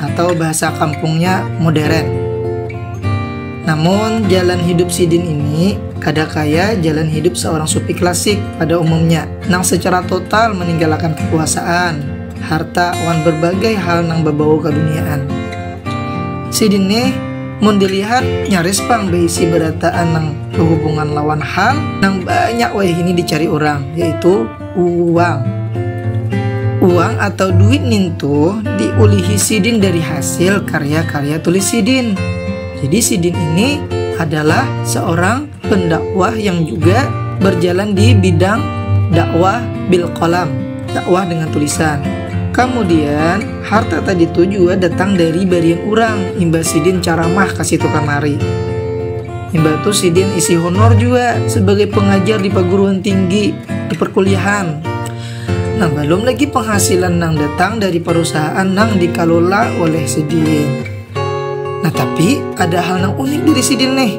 atau bahasa kampungnya moderen. Namun, jalan hidup sidin ini kada kaya jalan hidup seorang sufi klasik pada umumnya nang secara total meninggalakan kekuasaan, harta wan berbagai hal nang bebau kaduniaan. Sidin nih mun dilihat nyaris pang beisi berataan nang behubungan lawan hal nang banyak wayahini dicari urang, yaitu. Uang Uang atau duit nintu diulihi sidin dari hasil karya-karya tulis sidin. Jadi sidin ini adalah seorang pendakwah yang juga berjalan di bidang dakwah bil kolam, dakwah dengan tulisan. Kemudian harta tadi itu juga datang dari barian orang imbah sidin caramah ke situ kamari. Imbah itu sidin isi honor juga sebagai pengajar di perguruan tinggi di perkuliahan. Nah, belum lagi penghasilan yang datang dari perusahaan yang dikelola oleh Sidin. Nah, tapi ada hal yang unik dari Sidin nih.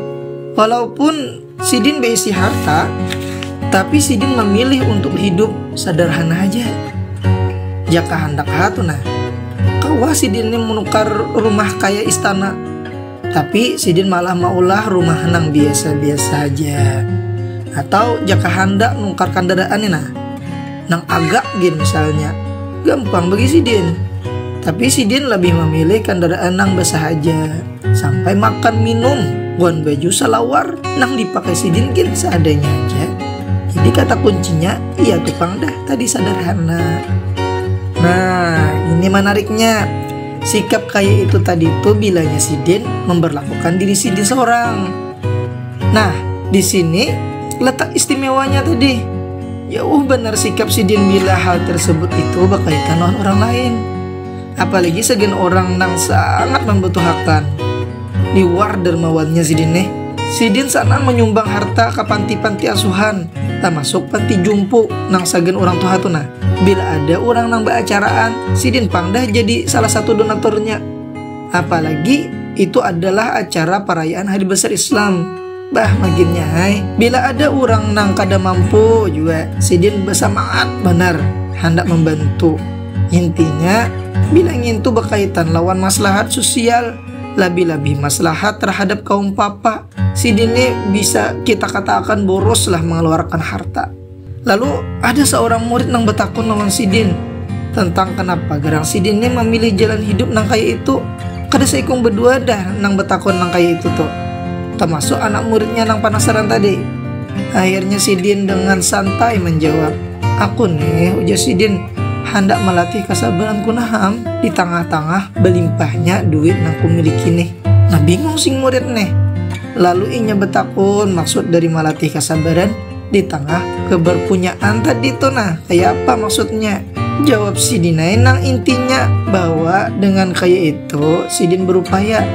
Walaupun Sidin berisi harta, tapi Sidin memilih untuk hidup sederhana aja. Jaka ya, hendak hatu nah. Kau Sidin ini menukar rumah kayak istana Tapi sidin malah maulah rumah nang biasa-biasa haja. Atau jaka handak nukar kandaraan ni nah, nang agak gin misalnya, gampang bagi sidin. Tapi sidin labih mamilih kandaraan nang basahaja, sampai makan minum wan baju salawar nang dipakai sidin gin seadanya haja. Jadi kata kuncinya iya tu pang dah tadi sadarhana. Nah, ini manariknya. Sikap kaya itu tadi tu bilanya sidin memberlakukan diri sidin seorang. Nah, di sini letak istimewanya tadi. Jauh benar sikap sidin bila hal tersebut itu berkaitan lawan orang lain. Apalagi sagan orang nang sangat membutuhakan. Liwar dermawannya sidin neh. Sidin sanang manyumbang harta ka panti-panti asuhan, tamasuk panti jumpu nang sagan urang tuha tu nah. Bila ada urang nang baacaraan, sidin pang dah jadi salah satu donaturnya. Apalagi itu adalah acara parayaan Hari Besar Islam. Bah maginnya ai, bila ada urang nang kada mampu jua, sidin basamangat banar handak mambantu. Intinya, bila ngintu bakaitan lawan maslahat susial. Labih-labih maslahat tarhadap kaum papa, sidin ni bisa kita kataakan boroslah mangaluarakan harta. Lalu, ada saurang murid nang batakun lawan sidin tantang kanapa garang sidin ni mamilih jalan hidup nang kaya itu. Kada saikung badua dah nang batakun nang kaya itu tu, tamasuk anak muridnya nang panasaran tadi. Akhirnya sidin dengan santai manjawab, Aku nih, ujar sidin. handak malatih kasabaranku nah am, di tangah-tangah balimpahnya duit nang kumiliki nih. Nah bingung sing murid nih. Lalu inya betakun maksud dari malatih kasabaran di tengah keberpunyaan tadi tuh nah kayak apa maksudnya jawab si Dinai nang intinya bahwa dengan kayak itu sidin berupaya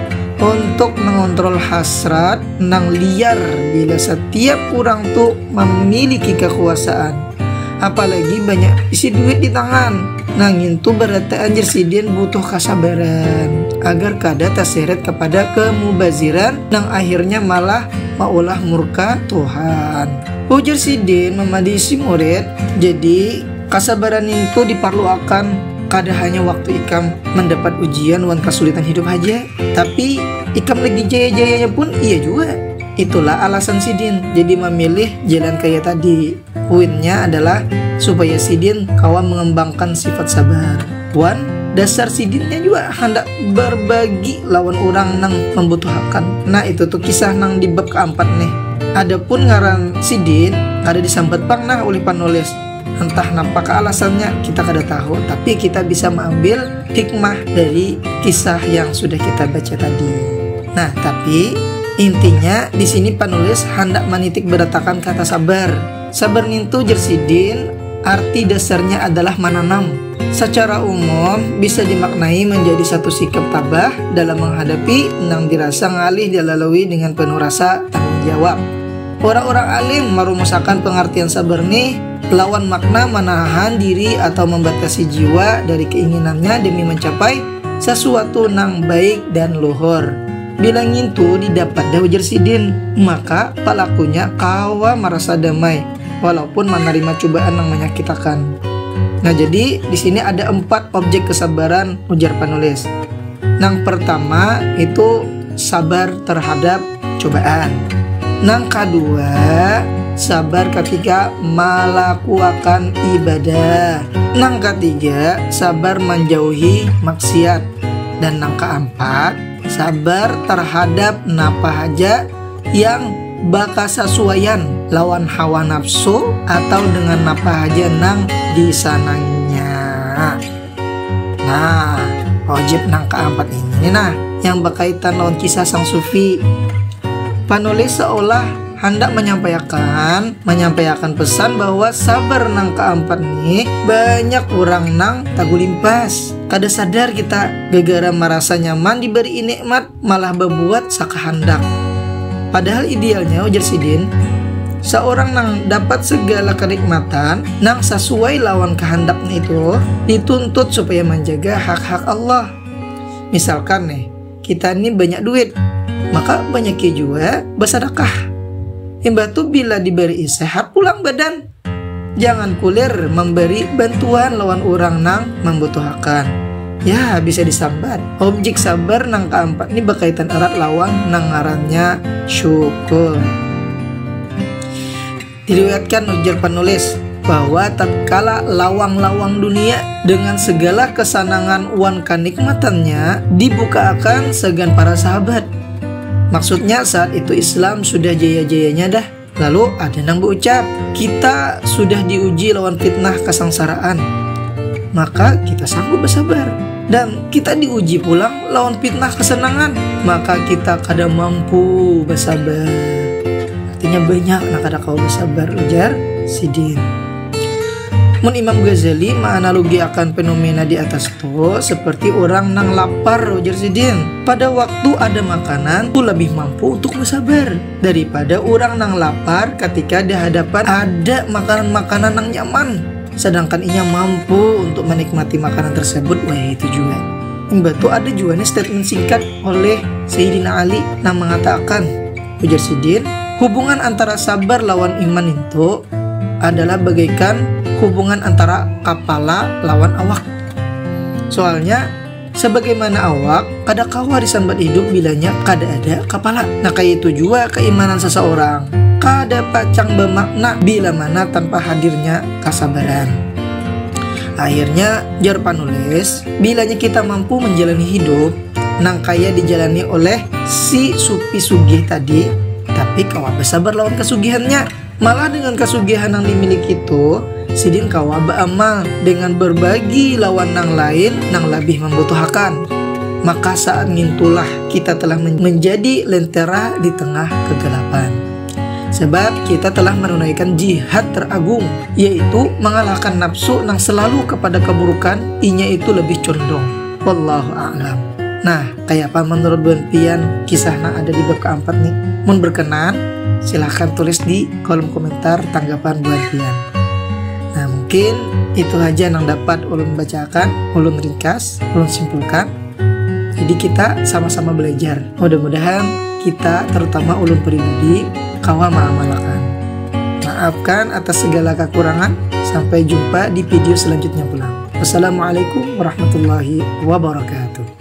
untuk mengontrol hasrat nang liar bila setiap orang tuh mamiliki kakuasaan apalagi banyak isi duit di tangan nah ngintu barataan jer sidin butuh kasabaran agar kada taseret kapada kamubaziran nang akhirnya malah maulah murka Tuhan. Ujar sidin mamadihi si murid, jadi kasabaran nintu diparluakan kada hanya waktu ikam mandapat ujian wan kasulitan hidup haja, tapi ikam lagi jaya-jayanya pun iya jua. Itulah alasan sidin jadi mamilih jalan kaya tadi. Puinnya adalah supaya sidin kawa mengembangkan sifat sabar. Wan, dasar sidinnya jua handak berbagi lawan urang nang membutuhakan. Nah, itu tu kisah nang di bab keampat nih. Adapun ngaran sidin kada disambat pang nah ulih panulis. Entah nampakah alasannya, kita kada tahu, tapi kita bisa maambil hikmah dari kisah yang sudah kita baca tadi. Nah, tapi intinya di sini penulis hendak menitik beratakan kata sabar. Sabar nintu jersidin arti dasarnya adalah menanam. Secara umum bisa dimaknai menjadi satu sikap tabah dalam menghadapi nang dirasa ngalih dilalui dengan penuh rasa tanggung jawab. Urang-urang alim marumusakan pangartian sabar nih lawan makna manahan diri atau mambatasi jiwa dari keinginannya demi mancapai sasuatu nang baik dan luhur. Bila ngintu didapat dah ujar sidin, maka palakunya kawa marasa damai walaupun manarima cubaan nang manyakitakan. Nah jadi disini ada empat objek kesabaran ujar panulis. Nang pertama itu sabar terhadap cobaan nang kadua sabar katiga malakuakan ibadah nang katiga sabar manjauhi maksiat dan nang kaampat sabar tarhadap napa haja yang bakasasuaian lawan hawa nafsu atau dengan napa haja nang disananginya. Nah, ojib nang keempat ini nah yang berkaitan lawan kisah sang sufi. Panulis seolah hendak menyampaikan menyampaikan pesan bahwa sabar nang keempat nih banyak orang nang tagulimpas. Kada sadar kita gegara merasa nyaman diberi nikmat malah babuat sakahandak. Padahal idealnya ujar sidin, saurang nang dapat segala kanikmatan nang sasuai lawan kahandaknya itu dituntut supaya manjaga hak-hak Allah. Misalkan nih, kita nih banyak duit, maka banyaki jua basadakah. Imbah tu bila dibari'i sehat pulang badan. Jangan kulir mambari bantuan lawan urang nang mambutuhakan. Yah, bisa disambat, objik sabar nang kaampat ni bakaitan erat lawan nang ngarannya syukur. Diriwayatkan ujar panulis, bahwa tatkala lawang-lawang dunia dengan segala kesanangan wan kanikmatannya dibukaakan sagan para sahabat. Maksudnya saat itu Islam sudah jaya-jayanya dah. Lalu ada nang berucap, kita sudah diuji lawan fitnah kesengsaraan, maka kita sanggup bersabar. Dan kita diuji pulang lawan fitnah kesenangan, maka kita kada mampu bersabar. Artinya banyak nak kada kau bersabar ujar sidin. Mun Imam Ghazali menganalogi akan fenomena di atas itu seperti orang nang lapar ujar sidin. Pada waktu ada makanan, itu lebih mampu untuk bersabar. daripada urang nang lapar katika di hadapan ada makanan-makanan nang nyaman, sadangkan inya mampu untuk manikmati makanan tersebut wayah itu jua. Imbah tu ada jua nih statement singkat oleh Sayyidina Ali nang mengatakan, ujar sidin, hubungan antara sabar lawan iman itu adalah bagaikan hubungan antara kapala lawan awak. Soalnya Sabagaimana awak, kada kawa disambat hidup bilanya kada ada kapala. Nah kayaitu jua kaimanan sasaurang, kada pacang bamakna bila mana tanpa hadirnya kasabaran. Akhirnya, jar panulis, bilanya kita mampu manjalani hidup nang kaya dijalani oleh si Supi sugih tadi, tapi kawa basabar lawan kasugihannya. Malah dengan kasugihan nang dimiliki tuh, sidin kawa baamal dengan berbagi lawan nang lain nang labih mambutuhakan. Maka saat ngintulah kita telah menjadi lentera di tengah kegelapan. Sebab kita telah menunaikan jihad teragung, yaitu mangalahkan nafsu nang selalu kepada keburukan, inya itu lebih condong. Wallahu a'lam. Nah, Kayapa menurut buhan pian kisah nang ada di bab kaampat ni? Mun berkenan, silahkan tulis di kolom komentar tanggapan buhan pian. Nah mungkin itu haja nang dapat ulun bacakan, ulun ringkas, ulun simpulkan. Jadi kita sama-sama belajar. Mudah-mudahan kita terutama ulun pribadi kawa maamalakan. Maafkan atas segala kekurangan. Sampai jumpa di video selanjutnya pulang. Wassalamualaikum warahmatullahi wabarakatuh.